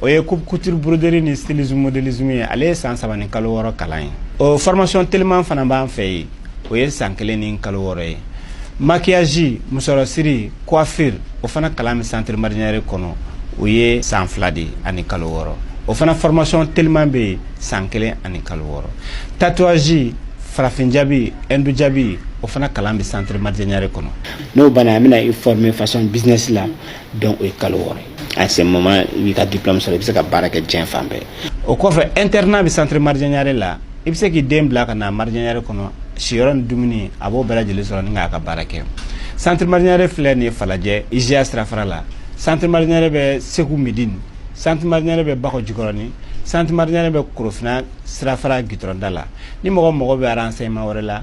o ye coupe couture broderie ni stylisme modélisme ye ale ye san saba ni kalo wɔɔrɔ kalan ye o formation teliman fana b'an fɛ yen o ye san kelen ni kalo wɔɔrɔ ye maquillage musɔrɔsiri coiffure o fana kalan bɛ centre marjanyare kɔnɔ o ye san fila de ani kalo wɔɔrɔ o fana formation teliman bɛ yen san kelen ani kalo wɔɔrɔ tatouage farafin jabi hindu jabi o fana kalan bɛ centre marjanyare kɔnɔ n'o banna an bɛna i former fashion business la donc o ye kalo wɔɔrɔ ye à ce moment i b'i ka diplôme sɔrɔ i bɛ se ka baara kɛ diɲɛ fan bɛɛ o kɔfɛ internat bɛ centre marjanyare la i bɛ se k'i den bila ka na marjanyare kɔnɔ siyɔrɔ ni dumuni a b'o bɛɛ lajɛlen sɔrɔ ni k'a ka baara kɛ centre marjanyare filɛ nin ye falajɛ IJA sirafara la centre marjanyare bɛ segu midini centre marjanyare bɛ bakɔ jikɔrɔni centre marjanyare bɛ korofina sirafara gitɔrɔnda la ni mɔgɔ mago bɛ renseignement wɛrɛ la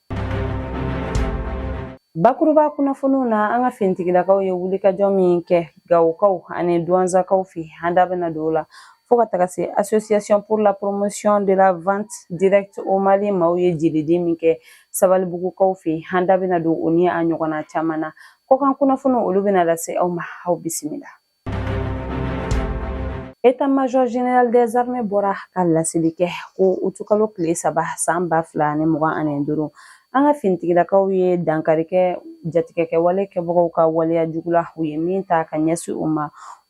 Bakuruba kunnafoniw na an ka finitigilakaw ye wulikajɔ min kɛ gawokaw ani duwanzakaw fɛ an da bɛna don o la fo ka taga se association pour la promotion de la vente directe au mali maaw ye jelidi min kɛ sabalibugukaw fɛ an da bɛna don o ni a ɲɔgɔnna caman na kɔkan kunnafoniw olu bɛna lase aw ma aw bisimila État major général des armées bɔra ka laseli kɛ ko utukalo tile saba san ba fila ani mugan ani duuru an ka finitigilakaw ye dankari kɛ jatigɛkɛ wale kɛbagaw ka waleya jugu la u ye min ta ka ɲɛsin u ma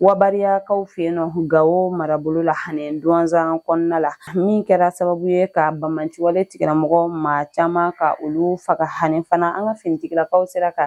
wabariyakaw fɛ yen nɔ gawo marabolo la ani duwanzan kɔnɔna la min kɛra sababu ye ka banbaanciwale tigilamɔgɔ maa caman ka olu faga ani fana an ka finitigilakaw sera ka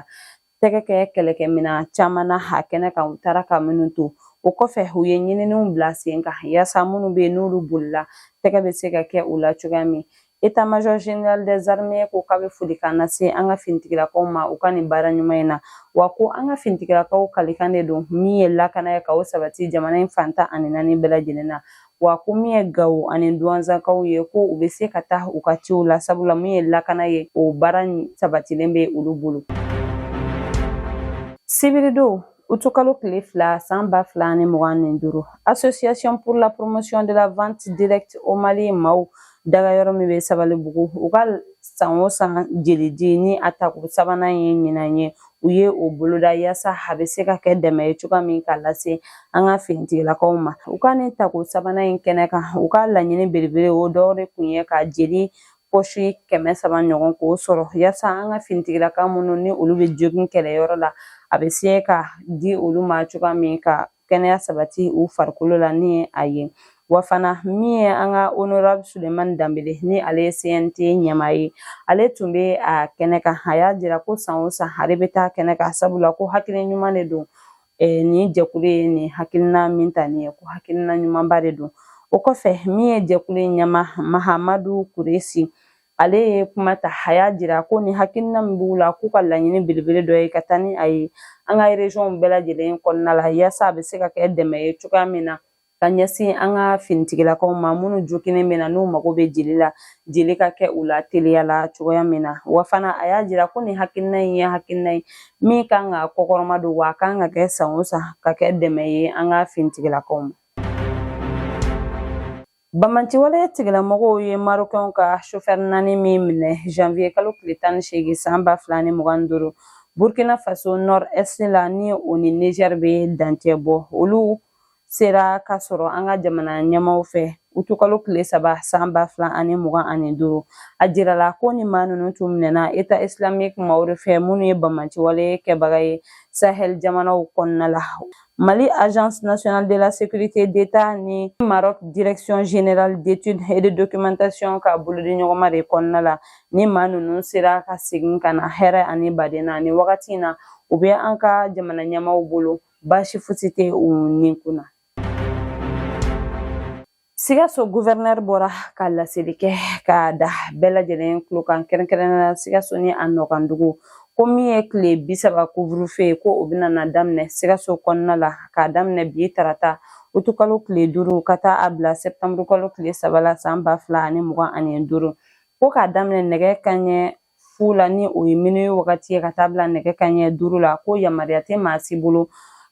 tɛgɛ kɛ kɛlɛkɛminɛn caman na a kɛnɛ kan u taara ka minnu to o kɔfɛ u ye ɲininiw bila sen kan yaasa minnu bɛ yen n'olu bolila tɛgɛ bɛ se ka kɛ u la cogoya min État major général des armées ko k'a bɛ folikan lase an ka finitigilakaw ma u ka nin baara ɲuman in na wa ko an ka finitigilakaw kalikan de don min ye lakana ye ka o sabati jamana in fan tan ani naani bɛɛ lajɛlen na wa ko min ye gawo ani duwanzakaw ye ko u bɛ se ka taa u ka ciw la sabula min ye lakana ye o baara sabatilen bɛ olu bolo sibiridon utukalo tile fila san ba fila ni mugan ni duuru association pour la promotion de la vente directe au mali maaw daga yɔrɔ min bɛ sabalibugu u ka san o san jelidi ni a tako sabanan ye ɲinan ye u ye o boloda yaasa a bɛ se ka kɛ dɛmɛ ye cogoya min ka lase an ka finitigilakaw ma u ka nin tako sabanan in kɛnɛ kan u ka laɲini belebele o dɔw de tun ye ka jeli pɔsi kɛmɛ saba ɲɔgɔn k'o sɔrɔ yaasa an ka finitigilaka minnu ni olu bɛ jogin kɛlɛyɔrɔ la a bɛ se ka di olu ma cogoya min ka kɛnɛya sabati u farikolo la ni ye a ye wa fana min ye an ka honorable sulemani danbele ni ale ye cnt ɲɛmaa ye ale tun bɛ a kɛnɛ kan a y'a jira ko san o san ale bɛ taa kɛnɛ kan sabula ko hakili ɲuman de don eh, nin jɛkulu ye nin hakilina min ta nin ye ko hakilina ɲumanba de don o kɔfɛ min ye jɛkulu in ɲɛmaa mahamadu kuresi ale ye kuma ta a y'a jira ko ni hakilina min b'u la k'u ka laɲini belebele dɔ ye ka taa ni a ye an ka région bɛɛ lajɛlen kɔnɔna la yaasa a bɛ se ka kɛ dɛmɛ ye cogoya min na ka ɲɛsin an ka finitigilakaw ma minnu joginnen bɛ na n'u mago bɛ jeli la jeli ka kɛ u la teliya la cogoya min na wa fana a y'a jira ko nin hakilina in ye hakilina ye min kan ka kɔkɔrɔma don wa a kan ka kɛ san o san ka kɛ dɛmɛ ye an ka finitigilakaw ma Banbaanciwale tigilamɔgɔw ye Marokɛnw ka chauffeur naani min minɛ janvier kalo tile tan ni seegin san ba fila ni mugan ni duuru Burkina Faso nord est la ni o ni Niger bɛ dancɛ bɔ olu sera ka sɔrɔ an ka jamana ɲɛmaaw fɛ utukalo tile saba san ba fila ani mugan ani duuru a jirala ko ni maa ninnu tun minɛna État islamique maaw de fɛ minnu ye banbaanciwale kɛbaga ye sahel jamanaw kɔnɔna la Mali agence nationale de la sécurité d'État ni Maroc direction générale d'études et de documentation ka bolodiɲɔgɔnma de kɔnɔna la ni maa ninnu sera ka segin ka na hɛrɛ ani baden na ni wagati in na u bɛ an ka jamana ɲɛmaaw bolo baasi fosi tɛ u ni kunna Sikaso gouverneur bɔra ka laseli kɛ ka da bɛɛ lajɛlen tulo kan kɛrɛnkɛrɛnna sikaso ni a nɔkandugu ko min ye tile bi saba couvre-feu ko o bɛna na daminɛ sikaso kɔnɔna la ka daminɛ bi tarata utukalo tile duuru ka taa a bila sɛtanburukalo tile saba la san ba fila ani mugan ani duuru ko k'a daminɛ nɛgɛ kanɲɛ fu la ni o ye minuit wagati ye ka taa bila nɛgɛ kanɲɛ duuru la ko yamaruya tɛ maa si bolo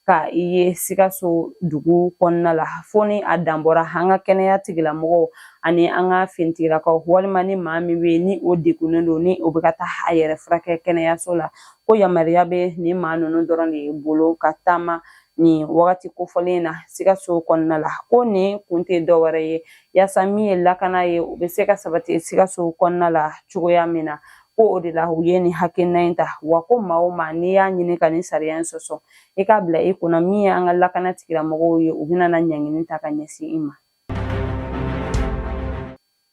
ka i ye sikaso dugu kɔnɔna la fo ni a dan bɔra an ka kɛnɛya tigilamɔgɔw ani an ka finitigilakaw walima ni maa min bɛ ni o degunnen don ni o bɛ ka taa a yɛrɛ furakɛ kɛnɛyaso la ko yamaruya bɛ nin maa ninnu dɔrɔn de bolo ka taama nin wagati kofɔlen na sikaso kɔnɔna la ko nin kun tɛ dɔwɛrɛ ye yaasa min ye lakana ye o bɛ se ka sabati sikaso kɔnɔna la cogoya min na ko o de la u ye nin hakilina in ta wa ko maa o maa n'i y'a ɲini ka nin sariya in sɔsɔ i k'a bila i kunna min ye an ka lakana tigilamɔgɔw ye u bɛna na ɲangini ta ka ɲɛsin i ma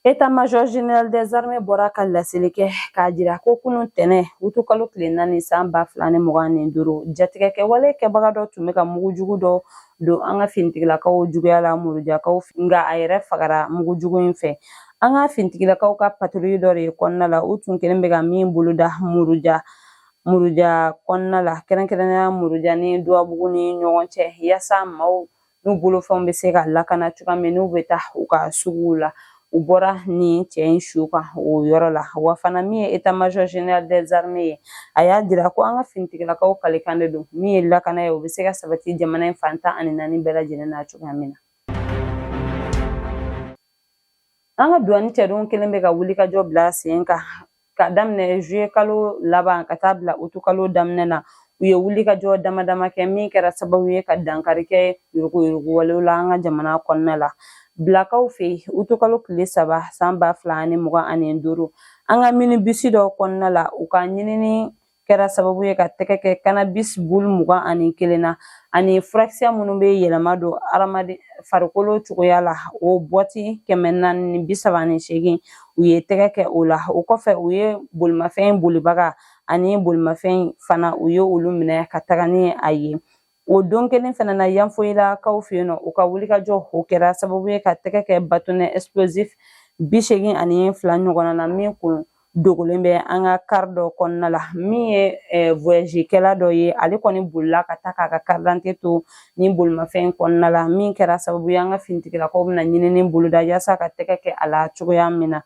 État-major général des armées bɔra ka laseli kɛ k'a jira ko kunun tɛnɛn utukalo tile naani san ba fila ni mugan ni duuru jatigɛkɛwale kɛbaga dɔ tun bɛ ka mugu jugu dɔ don an ka finitigilakaw juguya la murujakaw nka a yɛrɛ fagara mugu jugu in fɛ an ka finitigilakaw ka patoli dɔ de kɔnɔna la u tun kɛlen bɛ ka min boloda muruja muruja kɔnɔna la kɛrɛnkɛrɛnnenya muruja ni duwabugu ni ɲɔgɔn cɛ yaasa maaw n'u bolofɛnw bɛ se ka lakana cogoya min n'u bɛ taa u ka suguw la u bɔra nin cɛ in su kan o yɔrɔ la wa fana min ye état-major général des armées ye a y'a jira ko an ka finitigilakaw kalikan de don min ye lakana ye o bɛ se ka sabati jamana in fan tan ani naani bɛɛ lajɛlen na cogoya min na an ka duwani cɛdenw kɛlen bɛ ka wulikajɔ bila sen kan ka daminɛ zuye kalo laban ka taa bila utu kalo daminɛ na u ye wulikajɔ damadama kɛ min kɛra sababu ye ka dankari kɛ yurugu yurugu walew la an ka jamana kɔnɔna la bilakaw fɛ yen utukalo tile saba san ba fila ani mugan ani duuru an ka minibisi dɔ kɔnɔna la u ka ɲinini kɛra sababu ye ka tɛgɛ kɛ kanabis bulu mugan ani kelen na ani furakisɛ minnu bɛ yɛlɛma don adamaden farikolo cogoya la o bɔti kɛmɛ naani ni bi saba ni seegin u ye tɛgɛ kɛ o la o kɔfɛ u ye bolimafɛn bolibaga ani bolimafɛn fana u ye olu minɛ ka taga ni a ye O don kelen fana na yanfoyilakaw fɛ yen nɔ u ka wulikajɔ o kɛra sababu ye ka tɛgɛ kɛ bâtonnet explosif bi seegin ani fila ɲɔgɔnna na min tun dogolen bɛ an ka kari dɔ kɔnɔna la min ye eh, voyagekɛla dɔ ye ale kɔni bolila ka taa k'a ka karidante to nin bolimafɛn kɔnɔna la min kɛra sababu ye an ka finitigilakaw bɛna ɲinini boloda yaasa ka tɛgɛ kɛ a la cogoya min na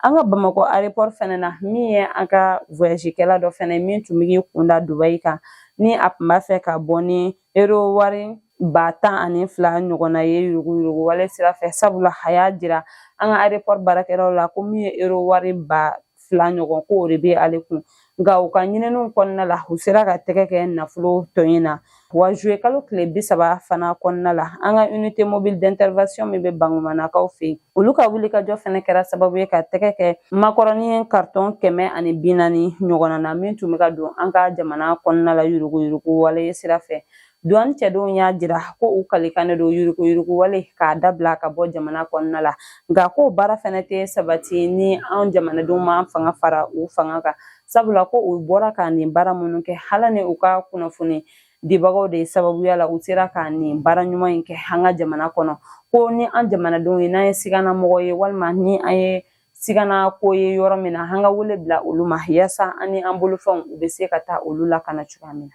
An ka Bamakɔ aéroport fɛnɛ na min ye an ka voyagekɛla dɔ fɛnɛ ye min tun bɛ k'i kunda Dubaï kan ni a tun b'a fɛ ka bɔ ni euro wari ba tan ani fila ɲɔgɔnna ye yuruguyurugu wale sira fɛ sabula a y'a jira an ka aéroport baarakɛlaw la ko min ye euro wari ba fila ɲɔgɔn ko o de bɛ ale kun nka u ka ɲininiw kɔnɔna la u sera ka tɛgɛ kɛ nafolo tɔ in na wa zuye kalo tile bi saba fana kɔnɔna la an ka unité mobile d'intervention min bɛ bankumanakaw fɛ yen olu ka wulikajɔ fana kɛra sababu ye ka tɛgɛ kɛ makɔrɔni karitɔn kɛmɛ ani bi naani ɲɔgɔnna na min tun bɛ ka don an ka jamana kɔnɔna la yuruguyurugu wale sira fɛ Duwani cɛdenw y'a jira ko u kalikan de don yuruguyuruguwale k'a dabila ka bɔ jamana kɔnɔna la nka ko baara fana tɛ sabati ni an jamanadenw ma fanga fara u fanga kan sabula ko u bɔra ka nin baara minnu kɛ Ala ni u ka kunnafoni dibagaw de sababuya la u sera ka nin baara ɲuman in kɛ an ka jamana kɔnɔ ko ni an jamanadenw ye n'an ye sigana mɔgɔ ye walima ni an ye sigana ko ye yɔrɔ min na an ka wele bila olu ma yaasa an ni an bolofɛnw u bɛ se ka taa olu lakana cogoya min na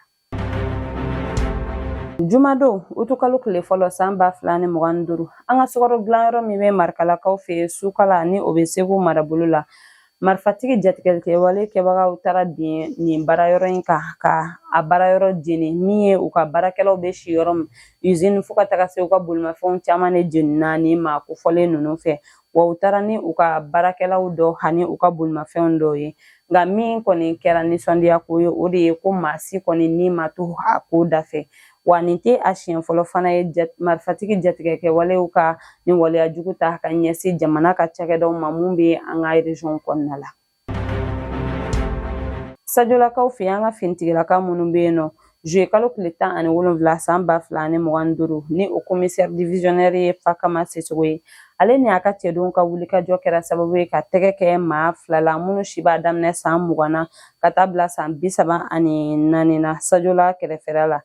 Jumadon utukalo tile fɔlɔ san ba fila ni mugan ni duuru an ka sukaro dilanyɔrɔ min bɛ marikalakaw fɛ yen sukala ni o bɛ segu marabolo la marifatigi jatigɛlikɛwale kɛbagaw taara bin nin baara yɔrɔ in kan ka a baara yɔrɔ jeni min ye u ka baarakɛlaw bɛ si yɔrɔ min usine fo ka taga se u ka bolimafɛnw caman de jenina nin maa kofɔlen ninnu fɛ wa u taara ni u ka baarakɛlaw dɔ ani u ka bolimafɛnw dɔw ye nka min kɔni kɛra nisɔndiya ko ye o de ye ko maa si kɔni ni ma to a ko da fɛ wa nin tɛ a siɲɛ fɔlɔ fana ye marifatigi jatigɛ kɛwalew ka nin waleya jugu ta ka ɲɛsin jamana ka cakɛdaw ma minnu bɛ an ka région kɔnɔna la Sajolakaw fɛ an ka finitigilaka minnu bɛ yen nɔ juye kalo tile tan ani wolonwula san ba fila ani mugan ni duuru ni o komisɛri divisiyɔnɛri ye Fakama Sisogo ye ale ni a ka cɛdenw ka wulikajɔ kɛra sababu ye ka tɛgɛ kɛ maa fila la minnu si b'a daminɛ san mugan na ka taa bila san bi saba ani naani na sajola kɛrɛfɛla la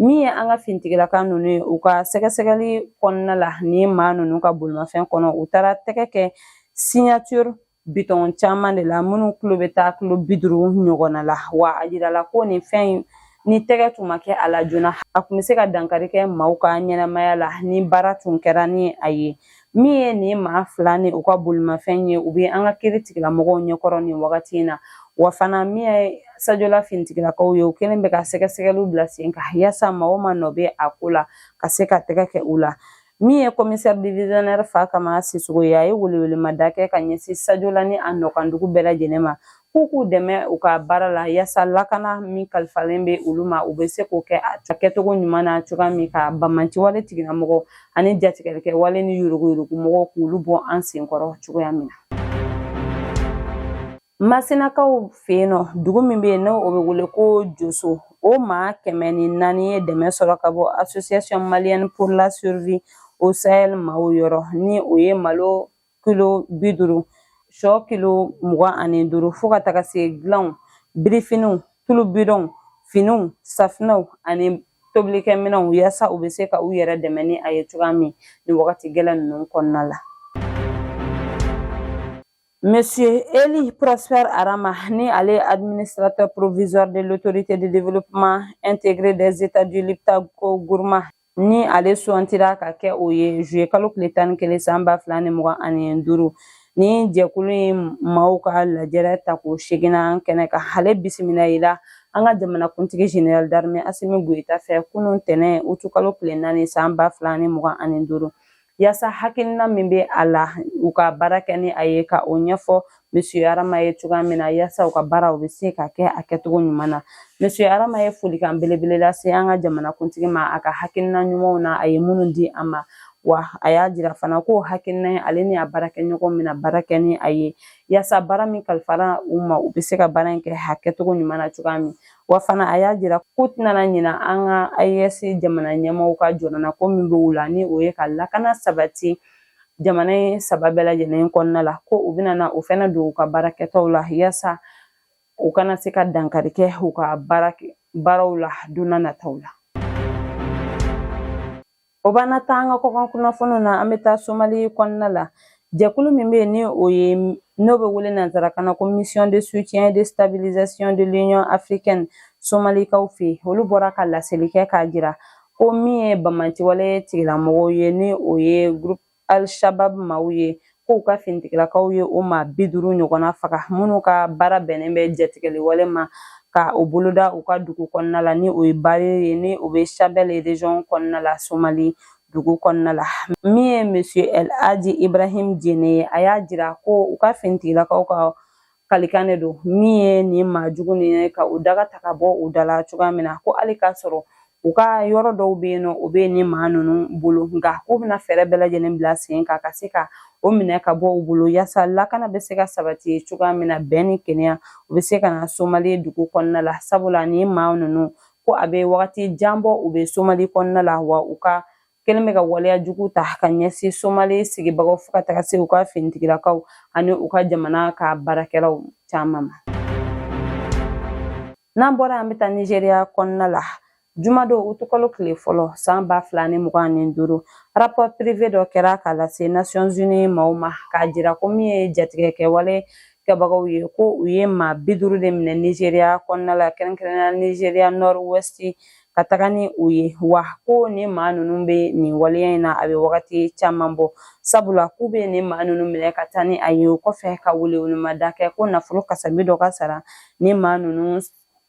min ye an ka finitigilaka ninnu ye u ka sɛgɛsɛgɛli kɔnɔna la nin maa ninnu ka bolimafɛn kɔnɔ u taara tɛgɛ kɛ cyanure bidɔn caman de la minnu kilo bɛ taa kilo bi duuru ɲɔgɔnna la wa a jirala ko nin fɛn in ni tɛgɛ tun ma kɛ a la joona a tun bɛ se ka dankari kɛ maaw ka ɲɛnamaya la ni baara tun kɛra ni a ye min ye nin maa fila ni u ka bolimafɛn ye u bɛ an ka kiiri tigilamɔgɔw ɲɛkɔrɔ nin wagati in na wa fana min ye sajola finitigilakaw ye u kɛlen bɛ ka sɛgɛsɛgɛliw bila sen kan yaasa maa o maa nɔ bɛ a ko la ka se ka tɛgɛ kɛ u la min ye komisɛri divisionɛri Fakama Sisogo ye a ye welewelemada kɛ ka ɲɛsin sajola ni a nɔkandugu bɛɛ lajɛlen ma k'u k'u dɛmɛ u ka baara la yaasa lakana min kalifalen bɛ olu ma u bɛ se k'o kɛ a kɛcogo ɲuman na cogoya min ka banbaanciwale tigilamɔgɔw ani jatigɛlikɛ wale ni yuruguyurugumɔgɔw k'olu bɔ an senkɔrɔ cogoya min na Masinakaw fɛ yen nɔ dugu min bɛ yen n'o bɛ wele ko Joso o maa kɛmɛ ni naani ye dɛmɛ sɔrɔ ka bɔ Association Malienne pour la survie au Sahel maaw yɔrɔ ni o ye malo kilo bi duuru shɔ kilo mugan ani duuru fo ka taga se dilanw birifiniw tulu bidɔnw finiw safinɛw ani tobilikɛminɛnw yaasa u bɛ se ka u yɛrɛ dɛmɛ ni a ye cogoya min nin wagati gɛlɛn ninnu kɔnɔna la Monsieur Eli Prosper Arama ni ale administrateur provisoire de l'autorité de développement intégré des États du Liptako Gourma ni ale sugandira ka kɛ o ye juye kalo tile tan ni kelen san ba fila ni mugan ani duuru nin jɛkulu in maaw ka lajɛrɛ tako seeginnan kɛnɛ kan ale bisimilala an ka jamanakuntigi général d'armée asimi goyita fɛ kunun tɛnɛ utukalo tile naani san ba fila ni mugan ani duuru yasa hakilina min bɛ a la u ka baara kɛ ni a ye ka o ɲɛfɔ Monsieur Arama ye cogoya min na yasa u ka baara u bɛ se ka kɛ a kɛcogo ɲuman na Monsieur Arama ye folikan belebele lase an ka jamanakuntigi ma a ka hakilina ɲumanw na a ye minnu di a ma wa a y'a jira fana ko hakilina in ale ni a baarakɛɲɔgɔn bɛna baara kɛ ni a ye yasa baara min kalifara u ma u bɛ se ka baara in kɛ a kɛcogo ɲuman na cogoya min Wa fana a y'a jira k'u tɛna ɲina an ka AES jamana ɲɛmaaw ka jɔrɔnako min bɛ u la ni o ye ka lakana sabati jamana in saba bɛɛ lajɛlen kɔnɔna la ko u bɛna na o fana don u ka baara kɛtaw la yasa u kana se ka dankari kɛ u ka baara baaraw la don na nataw la. O b'an taa an ka kɔkan kunnafoniw na an bɛ taa somali kɔnɔna la jɛkulu min bɛ yen ni o ye n'o bɛ wele nanzarakan na ko mission de soutien de stabilisation de l'union africaine somalikaw fɛ olu bɔra ka laseli kɛ k'a jira ko min ye banbaanciwale tigilamɔgɔw ye ni o ye groupe al-shabab maaw ye k'u ka finitigilakaw ye o maa bi duuru ɲɔgɔnna faga minnu ka baara bɛnnen bɛ jatigɛli wale ma ka o boloda u ka dugu kɔnɔna la ni o ye bari ye ni o bɛ shabelle région kɔnɔna la somali dugu kɔnɔna la min ye monsieur el hadji ibrahim diéné ye a y'a jira ko u ka finitigilakaw ka kalikan de don min ye nin maa jugu nin ka u daga ta ka bɔ u da la cogoya min na ko hali k'a sɔrɔ u ka yɔrɔ dɔw bɛ yen n'o bɛ nin maa ninnu bolo nka k'u bɛna fɛɛrɛ bɛɛ lajɛlen bila sen kan ka se ka o minɛ ka bɔ u bolo yaasa lakana bɛ se ka sabati cogoya min na bɛn ni kelenya u bɛ se ka na somali dugu kɔnɔna la sabula nin maa ninnu ko a bɛ wagati jan bɔ u bɛ somali kɔnɔna la wa u ka kɛlen bɛ ka waleya jugu ta ka ɲɛsin somali sigibagaw fo ka taga se u ka finitigilakaw ani u ka jamana ka baarakɛlaw caman ma n'an bɔra an bɛ taa nizeriya kɔnɔna la jumadon utukalo tile fɔlɔ san ba fila ni mugan ni duuru rapport privé dɔ kɛra k'a lase nations unies maaw ma k'a jira ko min ye jatigɛkɛwale kɛbagaw ye ko u ye maa bi duuru de minɛ nizeriya kɔnɔna la kɛrɛnkɛrɛnnenya nizeriya nord ouest ka taga ni u ye wa ko nin maa ninnu bɛ nin waleya in na a bɛ wagati caman bɔ sabula k'u bɛ nin maa ninnu minɛ ka taa ni a ye o kɔfɛ ka welewelemada kɛ ko nafolo kasabi dɔ ka sara nin maa ninnu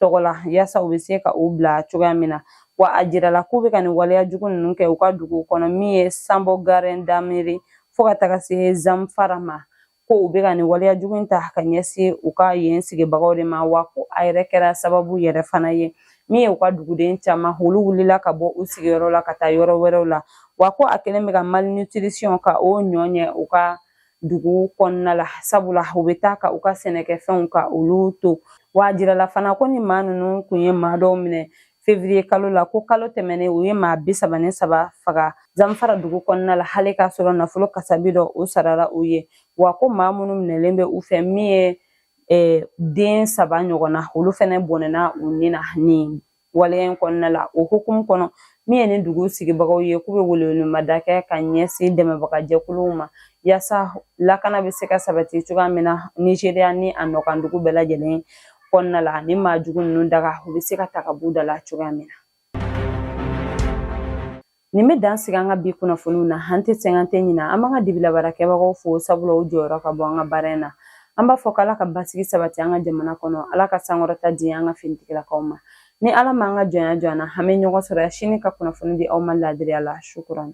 tɔgɔ la yaasa u bɛ se ka u bila cogoya min na wa a jirala k'u bɛ ka nin waleya jugu ninnu kɛ u ka dugu kɔnɔ min ye sabon garin damri fo ka taga se zamfara ma ko u bɛ ka nin waleya jugu in ta ka ɲɛsin u ka yen sigibagaw de ma wa ko a yɛrɛ kɛra sababu yɛrɛ fana ye min ye u ka duguden caman olu wulila ka bɔ u sigiyɔrɔ la ka taa yɔrɔ wɛrɛw la wa ko a kɛlen bɛ ka malnutrition ka o ɲɔ ɲɛ u ka dugu kɔnɔna la sabula u bɛ taa ka u ka sɛnɛkɛfɛnw ka olu to wa a jirala fana ko nin maa ninnu kun ye maa dɔw minɛ fevriye kalo la ko kalo tɛmɛnen u ye maa bi saba ni saba faga zamfara dugu kɔnɔna la hali k'a sɔrɔ nafolo kasabi dɔ o sarara u ye wa ko maa minnu minɛlen bɛ u fɛ min ye eh, den saba ɲɔgɔnna olu fɛnɛ bɔnɛna u ni na nin waleya in kɔnɔna la o hukumu kɔnɔ min ye nin dugu sigibagaw ye k'u bɛ welewelemada kɛ ka ɲɛsin dɛmɛbaga jɛkuluw ma yaasa lakana bɛ se ka sabati cogoya min na nizeriya ni a nɔkan dugu bɛɛ lajɛlen kɔnɔna la ani maa jugu ninnu dagaw bɛ se ka ta ka b'u da la cogoya min na nin bɛ dan sigi an ka bi kunnafoniw na an tɛ sɛgɛn an tɛ ɲina an b'an ka dibila baarakɛbagaw fo sabula u jɔyɔrɔ ka bon an ka baara in na an b'a fɔ k'ala ka basigi sabati an ka jamana kɔnɔ ala ka sankɔrɔta di an ka finitigilakaw ma ni ala m'an ka jɔnya jɔ an na an bɛ ɲɔgɔn sɔrɔ yan sini ka kunnafoni di aw ma laadiriya la shukuran